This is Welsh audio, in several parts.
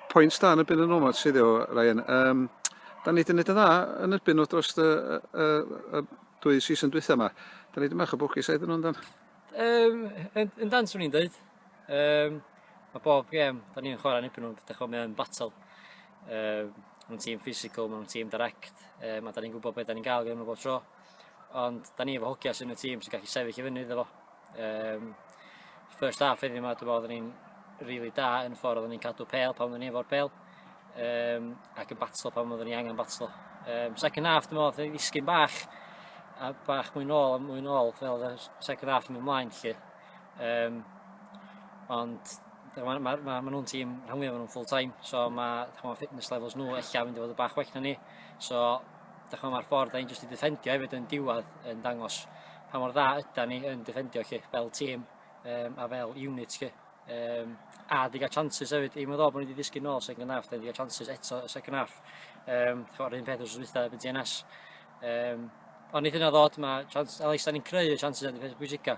Pwynt da yn y byn yn omad sydd o, Ryan. Um, da ni wedi gwneud yn dda yn y byn o dros y, y, y, y dwy season dwytha yma. Da ni wedi mach o bwgis aedd yn nhw'n dan. Um, yn, yn dan swn i'n dweud. Um, mae bob gem, da ni'n chwarae yn ebyn nhw'n dydych o mewn battle. Um, mae'n tîm physical, mae'n tîm direct, um, a da ni'n gwybod beth da ni'n gael gen nhw bob tro. Ond da ni efo hogia sy'n y tîm sy'n gallu sefyll i fyny iddo fo. Um, first half heddiw yma, dwi'n meddwl, ni'n really da yn ffordd oedden ni'n cadw pel pan oedden ni efo'r pel um, ac yn batlo pan oedden ni angen batlo. Um, second half, dwi'n meddwl, dwi'n ddisgyn bach a bach mwy nôl a mwy nôl fel y second half yn mynd mlaen lle. Um, ond mae ma, ma, ma nhw'n tîm rhan fwyaf nhw'n full time, so mae ma fitness levels nhw eich mynd i fod y bach well na ni. So Dych mae'r ffordd da ni'n jyst i ddefendio hefyd yn diwedd yn dangos pa mor dda yda ni yn defendio chi fel tîm um, a fel unit chi. Um, a di gael chances hefyd, i meddwl bod ni wedi ddisgyn nôl second half, da ni wedi cael chances eto y second half. Um, Chwarae'r un peth wrth wytha efo'n GNS. Um, ond nid yna ddod, mae chance, a leis da ni'n creu y chances yn y peth bwysica.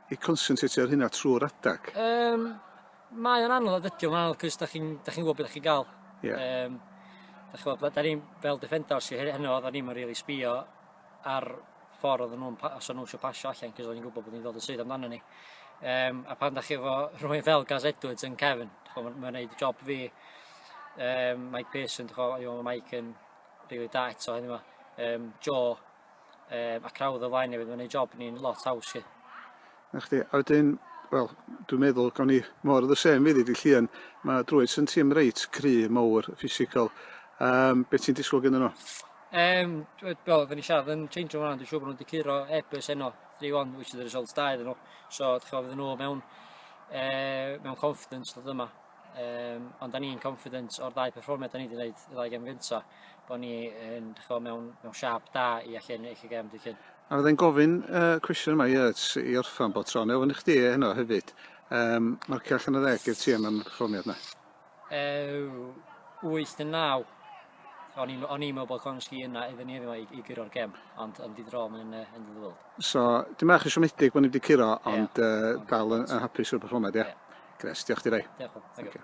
i consentrate ar hynna trwy'r adag? Yym, mae o'n anodd, ydy o'n anodd, cys da chi'n da chi'n gwybod beth da chi'n gael. Ie. Yym, da chi'n gwybod, da ni'n fel defenders i heno, da ni'n rili sbio ar ffordd oedden nhw'n, os o'n nhw eisiau pasio allan, cys o'n i'n gwybod bod ni'n dod yn sydd amdano ni. Um, a pan da chi efo rhywun fel Gaz Edwards yn Kevin, mae'n ma gwneud job fi, um, Mike Pearson, mae Mike yn rili really da eto hynny yma, um, Joe, um, ac rawdd o flaen hefyd, mae'n ei job ni'n lot haws i. Na chdi, a wedyn, wel, dwi'n meddwl gawn ni mor the same iddi di Llian, mae Druids yn tîm reit cry, mowr, ffisigol. Um, be ti'n disgwyl gen nhw? Um, wel, fe ni siarad yn change o'n rhan, dwi'n siŵr bod nhw'n dicuro ebys enno 3-1, which is the result da iddyn nhw. So, dwi'n chi'n fydden nhw mewn, e, mewn confidence dod yma. Um, ond da ni'n confidence o'r ddau performiad da ni wedi gwneud y ddau gem gyntaf. bod ni yn chwo, mewn, mewn siap da i allu ennill y gem dydd Llun. A fydda i'n gofyn y uh, cwestiwn yma Yurts i orffan bod tro, neu ofyn i chdi e heno hefyd. Um, marcio allan o ddeg i'r tîm am y perfformiad yna? Uh, 8 yn 9. O'n i'n meddwl bod Konski yna iddyn ni yma i, i gyro'r gem, ond yn didrol yn, uh, yn ddiddorol. So, dim eich yn siomedig bod ni wedi curo, ond yeah. uh, dal yn, yn hapus o'r perfformiad, ie? Yeah? Yeah. Gres, diolch di rei. Diolch. Thank you.